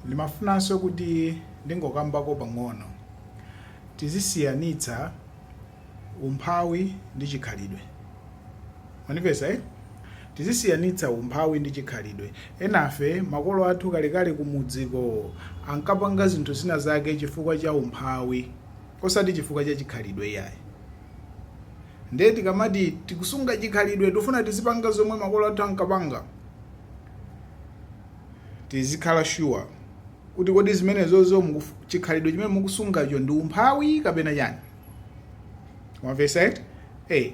Ndimafunanso kuti ndingokambako pang'ono. Tizisiyanitsa umphawi ndi chikhalidwe. Mwamvetsa eti? Tizisiyanitsa umphawi ndi chikhalidwe. Enafe makolo athu kalekale kumudziko ankapanga zinthu zina zake chifukwa cha umphawi osati chifukwa cha chikhalidwe iyayi. Ndiye tikamati tikusunga chikhalidwe tifuna tizipanga zomwe makolo athu ankapanga. tizikhala sure kuti kodi zimenezozo mukufu- chikhalidwe chimene mukusungacho ndi umphawi kapena chani mwamvetsa eti hey.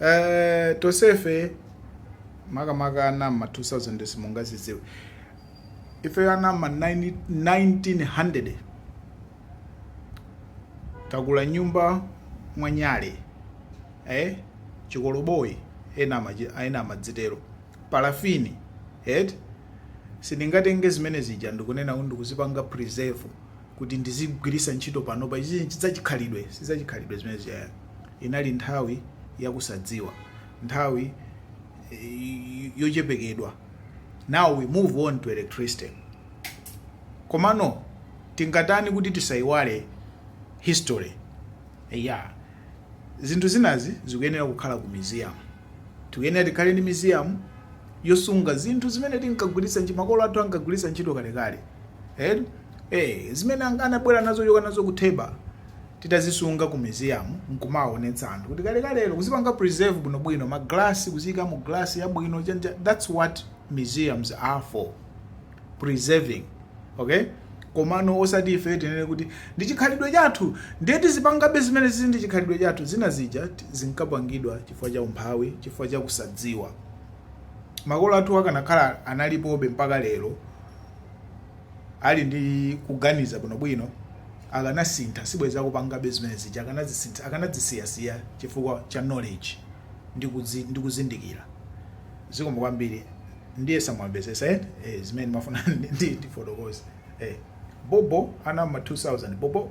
uh, tonsefe makamaka ana ama 2000 simungazidziwe ife ana ama 90 1900 takula m'nyumba mwanyale eh? chikoloboyi ena amachi- ena amadzitero parafini eti sindingatenge zimene zija ndikunena kuti ndikuzipanga preserve kuti ndizigwiritsa ntchito panopa izi chidzachikhalidwe sizachikhalidwe zimene zija inali nthawi yakusadziwa nthawi eh, yoperewedwa now we move on to electricity komano tingatani kuti tisayiwale history ya zinthu zinazi zikuyenera kukhala ku museum Tikuyenera tikhale ndi museum yosunga zinthu zimene tinkagwiritsa ntchito, makolo athu ankagwiritsa ntchito kalekale. Eti? Ee, zimene an- anabwera nazo kuchoka nazo ku Theba titazisunga ku museum nkumawaonetsa anthu kuti kalekalero kuzipanga preserve bwinobwino maglasi kuziyika mu glasi yabwino chanja that's what museums are for preserving okay komano osati ife tinene kuti ndi chikhalidwe chathu ndiye tizipangabe zimenezi izi ndi chikhalidwe chathu zina zija ti- zinkapangidwa chifukwa cha umphawi chifukwa cha kusadziwa makolo athu akanakhala analipobe mpaka lero ali ndi kuganiza bwinobwino akanasintha sibwezi akupangabe zimene zija akanazisintha akanazisiyasiya chifukwa cha knowledge ndi kuzi- ndi kuzindikira zikomo kwambiri ndiye samwamvesesa eti ee zimene ndimafuna ndifotokoze ee bhobho ana mma 2000 bhobho.